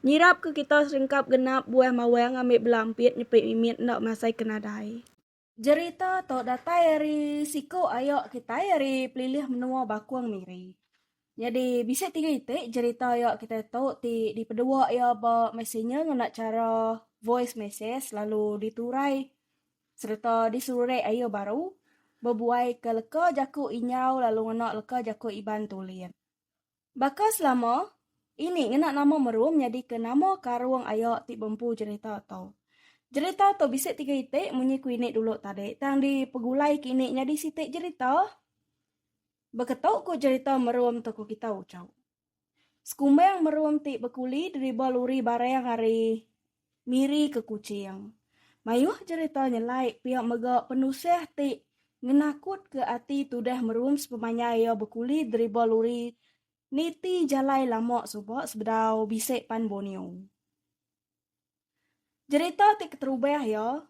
Nyirap ke kita serengkap genap buah mawang ngambi bela ampit nyepit mimit enda masai ke nadai. Jerita tu datai ari siku ayo kitai ari pelilih menua Bakong Miri. Nyadi bisi tiga iti jerita ayo kitai tu ti dipedua iya ba messenger ngena chara voice message lalu diturai sereta diserurek ayu baru bebuai ke leka jaku Inyau lalu ngena leka jaku Iban Tulit. Baka selama Ini ngena nama Merum nyadika nama karung aya ti bempu jerita tu. Jerita tu bisi tiga iti munyi ku ini dulu tadi tang dipegulai ke ini nyadi siti jerita beketu ku jerita Merum tu ku kita uchu. Sekumbang Merum ti bekuli deriba luri barang ari Miri ke Kuching. Mayuh jerita nyelai pia mega penusah ti ngenakutka ati tudah merum sepemanjai iya bekuli driba luri niti jalai lama suba sebedau bisi pan Borneo. Jerita ti keterubah iya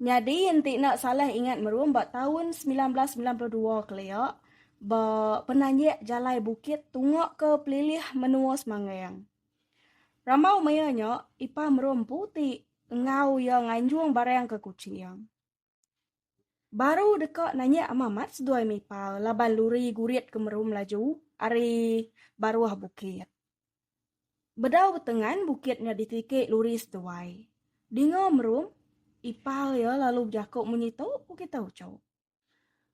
nyadi enti enda salah ingat merum ba taun semilan belas semilan puluh dua kelia ba penanjak jalai bukit tungaka pelilih menua Semangang. Rambau maya nya, Ipar Merum empu ti enggau iya nganjung barang ke Kuching. Baru deka nanya ama amat seduai Mipar laban luri gurit ke merum laju ari baruh bukit. Bedau betengan bukit nya ditiki luri seduai. Dinga Merum, Ipar iya lalu bejaku munyi tu, ku kita uchup.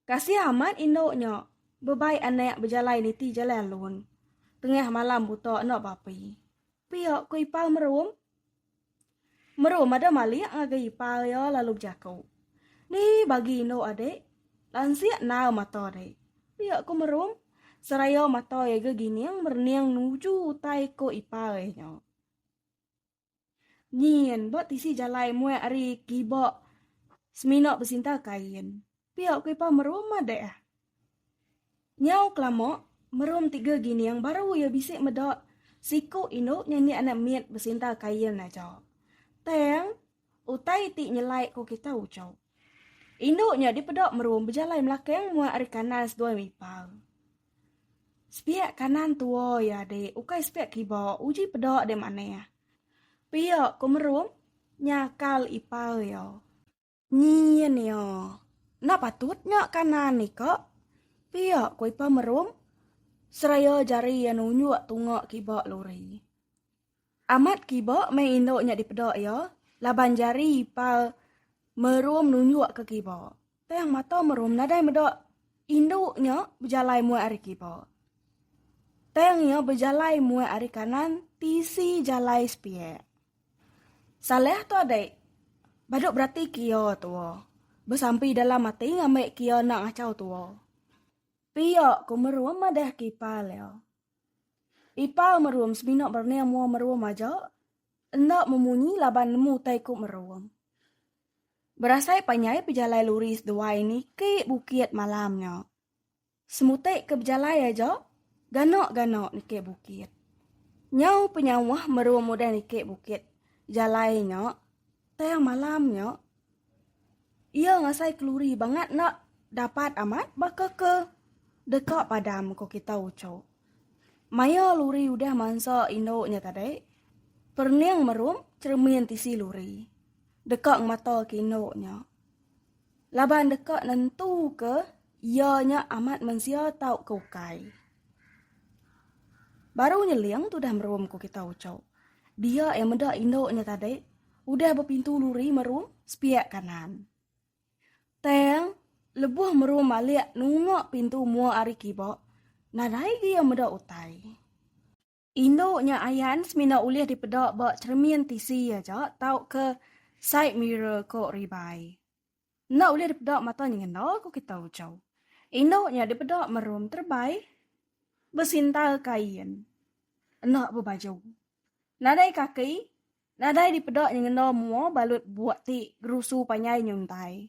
Kasih amat indu nya. Bebai anak bejalai niti jalai alun. Tengah malam buta enda bapi. Pia ku ipar Merum. Merum ada malik ngagai ipar iya lalu bejaku. Ni bagi indu adik. Lansik nau mata dek. Pia ku Merum. Seraya mata iya gegining merening nuju utai ku ipar iya nya. Nyin, ba tisi jalai muai ari kiba semina besinta kain. Pia ku Ipa Merum madah. Nyau kelama, Merum tiga gining baru iya bisi meda siku indu nyanyi anak mit besinta kain aja. Tang, utai ti nyelai ko kita uchu. Indu nya dipeda Merum bejalai melakang muai ari kanan seduai Ipa. Sepiak kanan tua iya dik, ukai sepiak kiba, uji peda dik manih. Pia ku Merum nyakal ipar iya. Nyin iya, enda patut nya kanan ni ka, pia ku ipar Merum seraya jari iya nunjuk tunga kiba lori. Amat kiba meh indu nya dipeda iya laban jari ipar Merum nunjuk ke kiba. Tang mata Merum nadai meda indu nya bejalai muat ari kiba. Tang iya bejalai muat ari kanan tisi jalai sepiak. Saleh tu adik badu berati ke iya tua besampi dalam ati ngambi ke iya enda ngachau tua. Pia ku Merum madah ke ipar iya. Ipar merum semina berning mua merum aja, enda memunyi laban nemu utai ku merum. Berasai panjai pejalai luri seduai niki bukit malam nya. Semutai ke bejalai aja, gana-gana niki bukit. Nyau penyauh merum udah niki bukit jalai nya, tang malam nya. Iya ngasai keluri bangat enda dapat amat baka ke deka padam ku kita uchu. Maya luri udah mansa indu nya tadi, perening merum cheremin tisi luri deka ngemataka indu nya laban deka nentuka. Iya nya amat mensia tauka ukai. Baru nyeling tudah merum ku kita Ucok. Dia eh meda indu nya tadi udah bepintu luri merum sepiak kanan. Tang lebuh merum malik nunga pintu mua ari kiba, nadai gia meda utai. Indu nya ayan semina ulih dipeda ba cheremin tisi aja tauka side mirror ko Ribai. Enda ulih dipeda mata nyengenda ko kita ujau. Indu nya dipeda merum terebai besintal kain enda bebaju. Nadai kaki nadai dipeda nyengenda mua balut buk ti gerusu panjai nyuntai.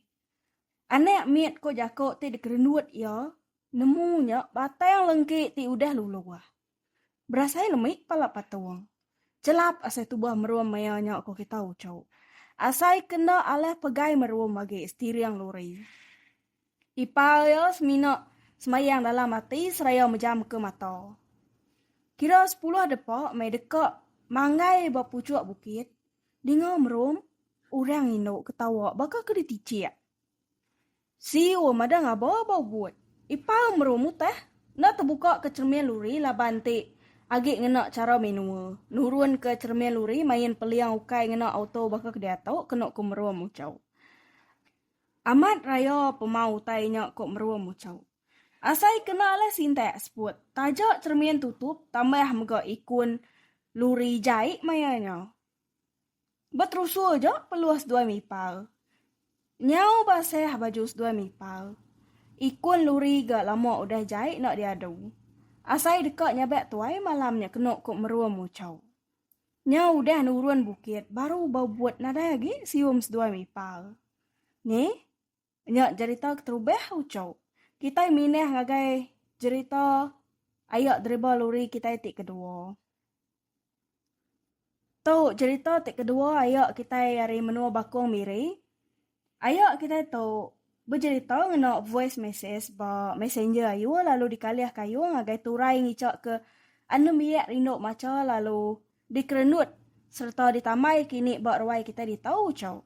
Anak mit ko jako ti dikerendut iya nemu nya batang lengki ti udah luluh. Berasai lemi kepala patung. Chelap asai tubuh merum maya nya ku kita uchu. Asai ke enda alih pegai merum agi setiring lori. Ipar iya semina semayang dalam ati seraya mejamka mata. Kira sepuluh depa meh deka manggai ba puchuk bukit, dinga merum orang indu ketawa baka ke ditichik. Siu madah ngaba ba Ubud. Ipar meru mutah enda tebuka ke cheremin luri laban ti agi ngena chara menua nurun ke cheremin luri main peliang ukai ngena auto baka ke diatu kenu ku meru muchau. Amat raya pemau utai nya ku meru muchau. Asai kena lah sintak seput taja cheremin tutup tambah mega ikun luri jai maya nya. Beterusul ja peluh seduai mipal. Nyau basah baju seduai mipal. Ikun luri ga lama udah jai enda diadu. Asai deka nyabak tuai malam nya kenu ku merua muchau. Nyau udah nurun bukit baru bau but nadai agi sium seduai mipal. Neh. Nya jerita keterubah uco. Kitai minah ngagai jerita aya driba luri kitai ti kedua. Tu jerita ti kedua aya kitai ari menua Bakong Miri. Aya kitai tu bejerita ngena voice message ba messenger ayu lalu dikalih kayu ngagai turai ngica ke anum biak rindu macha lalu Dikerenut sereta ditambai kini ba ruai kitai ditu, Ucok.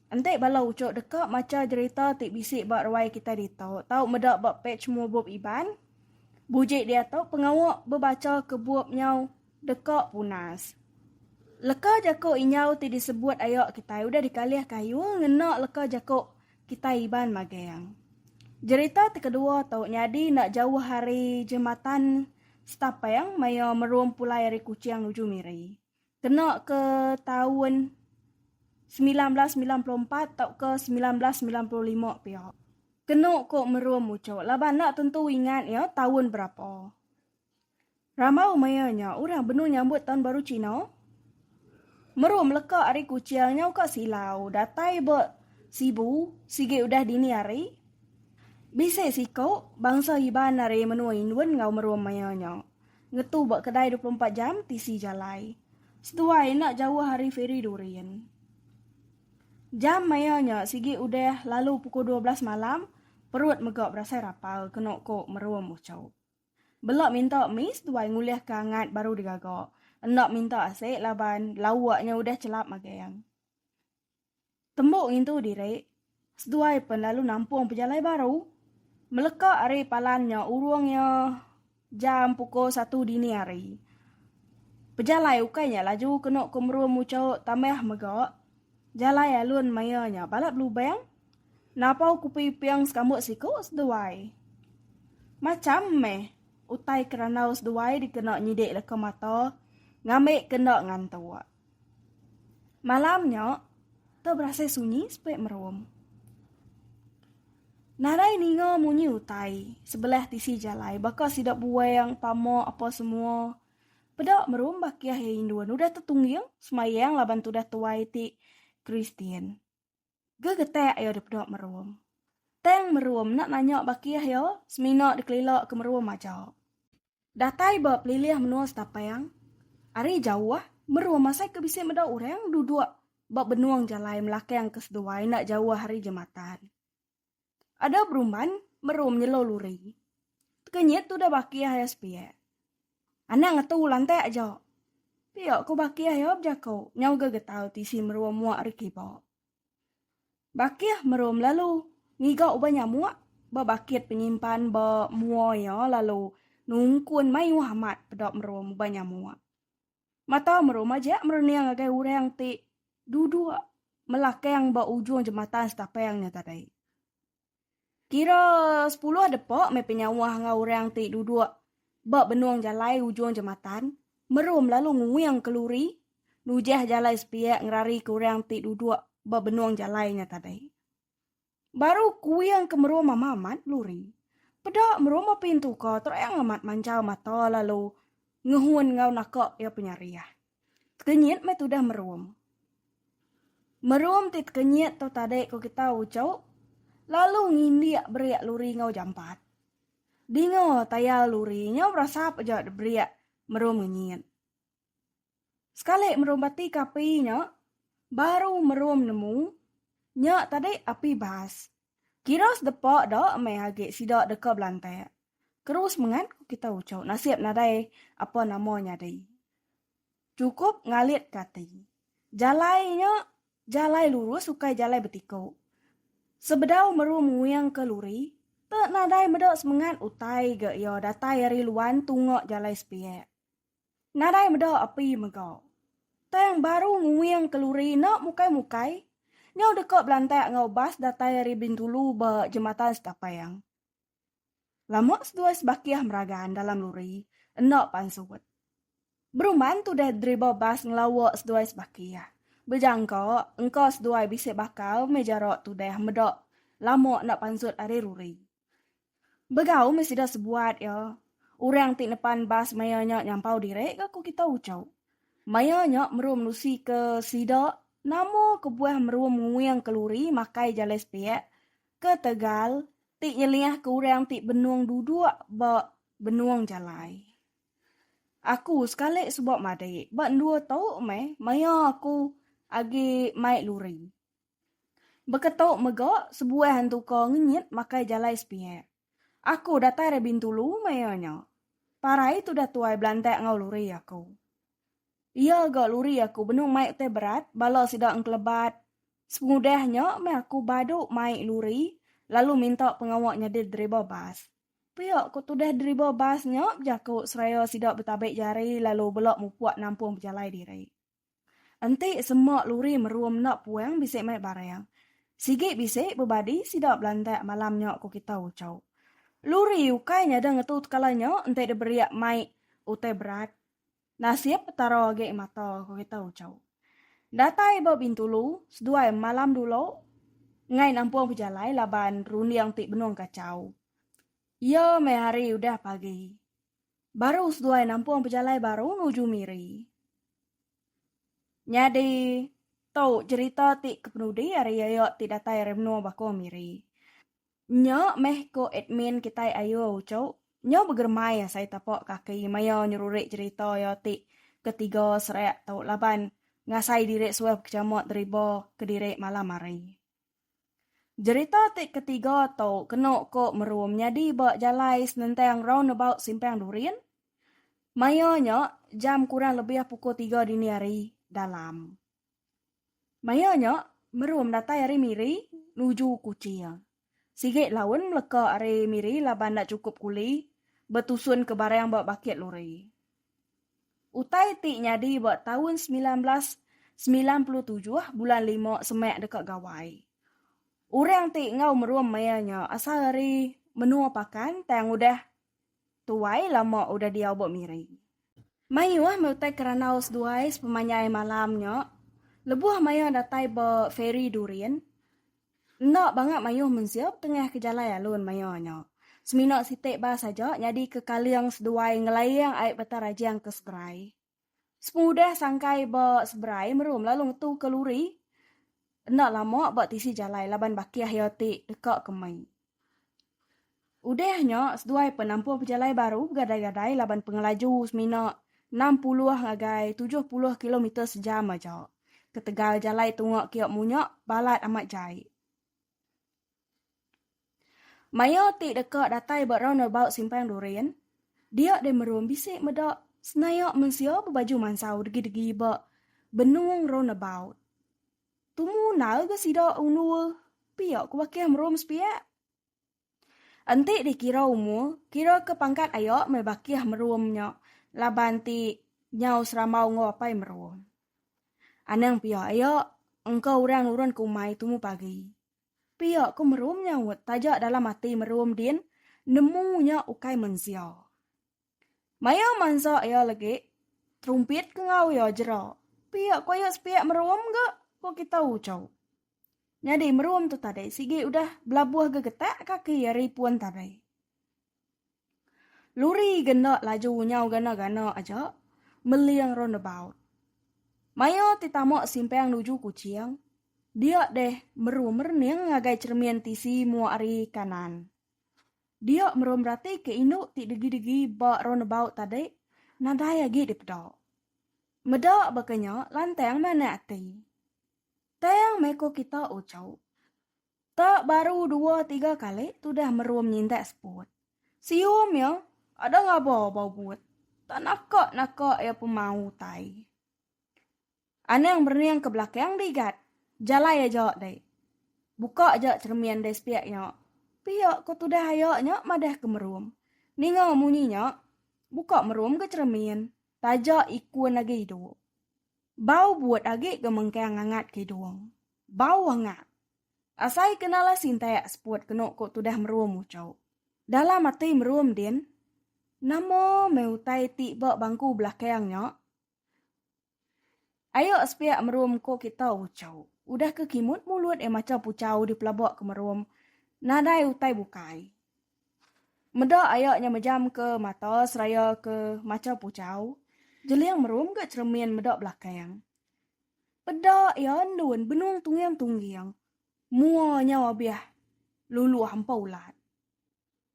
Enti bala ucok deka macha jerita ti bisi ba ruai kitai ditu tau meda ba pej Mubup Iban, buji diatu pengawa bebacha ke bup nyau deka punas. Leka jaku inyau ti disebut aya kitai udah dikalih kayu ngena leka jaku kitai Iban Magang. Jerita ti kedua tu nyadi enda jauh ari Jematan Setapang maya merum pulai ari Kuching nuju Miri. Kena ke taun semilan belas semilan puluh empat tauka semilan belas semilan puluh lima pia. Kenu ku merum muchuk laban enda tentu ingat iya taun berapa. Rambau maya nya orang benung nyambut taun baru Cina. Meru meleka ari Kuching nyau ka Silau datai ba Sibu sigi udah dini hari. Bisi siku bangsa Iban ari menua Indun enggau Merum maya nya ngetu ba kedai dua puluh empat jam tisi jalai seduai enda jauh ari Feri Durin. Jam maya nya sigi udah lalu pukul dua belas malam perut mega berasai rapal kenu ku Merum uchup. Bela minta miss tuai ngulih ke angat baru digaga. Enda minta asik laban lauk nya udah chelap magang. Tembu ngintu diri, seduai pen lalu nampung pejalai baru. Meleka ari palan nya urung iya jam pukul satu dini hari. Pejalai ukai nya laju kenu ke merum uchauk tambah mega jalai alun maya nya balat belubang. Napau kupi iping sekambut siku seduai. Macham meh utai ke randau seduai dikena nyidik leka mata ngambi ke enda ngantuk. Malam nya, te berasai sunyi sepe merum. Nadai ninga munyi utai sebelah tisi jalai baka sida buang, pama apa semua. Peda merum bakih iya indun udah tetungging semayang laban tudah tuai ti Kristian. Gegetak ayo dipedok merum. Tang merum enda nanya baki ayo, semina dikelila ke merum aja. Datai ba pelilih menua Setapang, ari jauh merum asai ke bisi meda orang duduk ba benung jalai melakang ke seduai enda jauh ari jematan. Ada berumban merum nyelo luri. Tekenyit tu dah baki ayah sepiak. Anak ngetu lantak aja. Pia ku baki ayah bejako nyau ga getau tisi merum muak ri kiba. Bakih merum lalu ngiga uban nyamuk ba bakit penyimpan ba mua iya lalu nungkun mayuh amat peda merum uban nyamuk. Mata meru majak merening ngagai orang ti duduk melakang ba ujung jematan Setapang nya tadi. Kira sepuluh depa meh penyauh enggau orang ti duduk ba benung jalai ujung jematan meru melalu nguing ke luri nujah jalai sepiak ngerarika orang ti duduk ba benung jalai nya tadi. Baru kuing ke merua mama amat luri. Peda merua ma pintu ka terang amat manjal mata lalu ngehun enggau naka iya penyariah. Tekenyit meh tudah merum. Merum ti tekenyit tu tadi ku kita uchu lalu ngindik berik luri enggau jampat. Dinga tayal luri nyau berasap aja debrik merum ngenyit. Sekali merum bati ke api nya baru merum nemu nya tadi api bas. Kira sedepa da meh agi sida deka belantak. Terus mengan ku kita uchu nasib nadai apa nama nyadi. Chukup ngalitka ati. Jalai nya jalai lurus ukai jalai betiku. Sebedau merum nguingka luri te nadai meda semengat utai ga iya datai ari Luan tunga jalai sepiak. Nadai meda api mega. Tang baru nguing keluri enda mukai-mukai, nyau deka belantak enggau bas datai ari Bintulu ba Jematan Setapang. Lama seduai sebakih meragan dalam luri enda pansut. Beruman tudah driba bas ngelawa seduai sebakih, bejangka engka seduai bisi bakal meh jarak tudah meda lama enda pansut ari luri. Begau meh sida sebuat iya. Orang ti nepan bas maya nya nyampau diri ga ku kita uchau. Maya nya merum nusika sida nama kebuah merum nguing keluri makai jalai sepiak ke tegal ti nyeliahka orang ti benung duduk ba benung jalai. Aku sekali suba madik ba endur tu meh maya aku agi mai luri. Baka tu mega sebuah entuka ngenyit makai jalai sepiak. Aku datai ari Bintulu maya nya. Parai tudah tuai belantak enggau luri aku. Iya ga luri aku benung mai utai berat bala sida engkelebat. Sepengudah nya meh aku badu mai luri lalu minta pengawa nyadi driba bas. Pia ku tudah driba bas nya bejaku seraya sida betabi jari lalu bela mupuk nampung pejalai diri. Enti sema luri merum enda puang bisi mai barang. Sigi bisi bebadi sida belandak malam nya ku kita ucau. Luri ukai nyada ngetu tekala nya enti diberiak mai utai berat. Nasib Petara agi mata ku kita ucau. Datai ba Bintulu seduai malam dulu enggai nampung pejalai laban runding ti benung kacau. Iya meh hari udah pagi. Baru seduai nampung pejalai baru nuju Miri. Nyadi tu cherita ti kepenudi ari Yayo ti datai ari menua Bakong Miri. Nya meh ko admin kitai Ayu Ucho, nya begeremai asai tapa kaki maya nyerurik cherita iya ti ke tiga serak tu laban ngasai diri suah bekechamot deriba kediri malam hari. Jerita ti ketiga tu kena ko meru menyadi ba jalai senentang roundabout Simpang Durin maya nya jam kurang lebih pukul tiga dini hari dalam maya nya meru medatai ari Miri nuju Kuching. Sigi laun meleka ari Miri laban enda chukup kuli betusunka barang ba bakit lori. Utai ti nyadi ba taun semilan belas semilan puluh tujuh bulan lima semak deka gawai. Orang ti enggau merum maya nya asal ari menua Pakan tang udah tuai lama udah diau ba Miri. Mayuh meh utai ke randau seduai sepemanjai malam nya lebuh maya datai ba Feri Durin. Enda banga mayuh mensia betengahka jalai alun maya nya. Semina siti bas aja nyadika kaling seduai ngelaing ai beta rajang ke seberai. Sepengudah sangkai ba seberai merum lalu ngetuka luri enda lama ba tisi jalai laban bakih iya ti deka ke mei. Udah nya, seduai pen nampung pejalai baru begadai-gadai laban pengelaju semina enam puluh ngagai tujuh puluh kilometer sejam aja. Ketegal jalai tunga kiok munya balat amat jai. Maya ti deka datai ba roundabout Simpang Durin, dia deh merum bisi meda senayak mensia bebaju mansau degi-degi ba benung roundabout. Tumu nal ga sida undul pia ku bakih merum sepiak. Enti dikira umur, kira ke pangkat aya meh bakih merum nya laban ti nyau serambau enggau apai merum. Anang pia iya engka orang nurun ke umai tumu pagi. Pia ku merum nyaut taja dalam ati merum din nemu nya ukai mensia. Mayuh mansa iya legi, terumpit ke ngau iya jera. Pia ko iya sepia merum ga ko kita ucau. Nyadi merum tu tadi sigi udah belabuh gegetak kaki iya ri pun tadi. Luri ga enda laju nyau gana-gana aja meling roundabout. Maya ti tama simpang nuju Kuching, dia deh merum rening ngagai cheremin tisi mua ari kanan. Dia merom rati ke indu ti degi-degi ba roundabout tadi nadai agi dipeda. Meda baka nya lantang manah ati. Tang meh ko kita uchup. Tak baru dua tiga kali tudah merom nyintak spot. Sium iya ada ngaba ba ubut. Tak naka-naka iya pemau utai. Anang berenang ke belakang dei gat. Jalai aja dei. Buka aja ceremin dei sepiak nya. Pia ko tudah aya nya madah ke merum. Ninga munyi nya, buka merum ke ceremin. Taja ikun agi idup. Bau but agi ke mengkang ngangat ke idung. Bau angat. Asai ke nalas intak seput kenu ko tudah merum ucuk. Dalam ati merum din, nama meh utai ti ba bangku belakang nya? Ayo sepiak merum ko kita ucau. Udah ke kimut mulut eh macha pucau di pelaba ke merum nadai utai bukai. Meda ayo nya mejam ke mata seraya ke macha pucau, jeling merum ga ceremin meda belakang. Peda iya endun benung tungging-tungging mua nyau abih luluh empa ulat.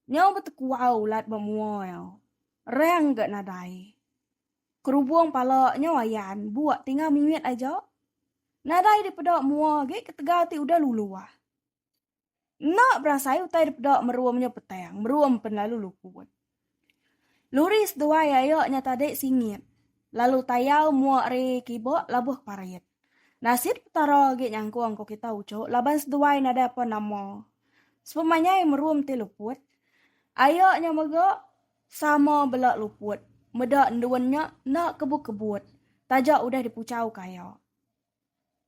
Nyau betekuau ulat ba mua iya. Rang ga nadai. Kerubung pala nyau ayan bua tinggal mimit aja. Nadai dipeda mua agi ketegal ti udah luluh. Enda berasai utai dipeda merum nya petang merum pen lalu luput. Luri seduai aya nya tadi singit lalu tayau mua ari kiba labuh parit. Nasit Petara agi nyangkung ko kita uchu laban seduai nadai apa nama. Sepemanyai merum ti luput, aya nya mega sama bela luput, meda endun nya enda kebut-kebut taja udah dipuchau ke aya.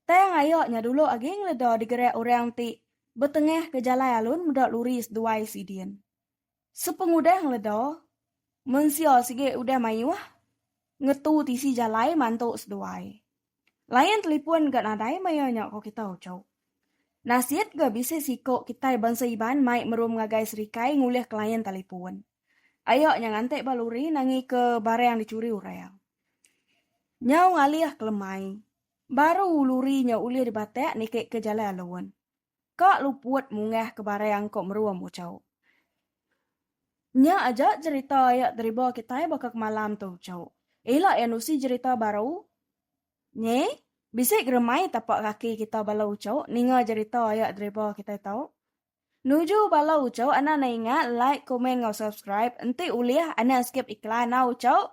Tang aya nya dulu agi ngeleda digerak orang ti betengah ke jalai alun meda luri seduai sidin. Sepengudah ngeleda, mensia sigi udah mayuh ngetu tisi jalai mantu seduai. Layan telipon ga nadai maya nya ko kita uchu. Nasit ga bisi siko kitai bansa Iban mai merum ngagai serikai ngulih ke layan telipon. Aya nya nganti ba luri nangi ke barang dicuri orang. Nyau ngalih ke lemai, baru luri nya ulih dibatak niki ke jalai alun. ka luput mungah ke barang ko merum uco. Nya aja jerita ia deriba kitai baka kemalam tu uco. Ila ia nusi jerita baru nyi bisi geremai tapak kaki kita bala uco ninga jerita ia deriba kitai tu. Nuju bala uco anak ne ingat like, komen enggau subscribe enti ulih anak skip iklan a uco.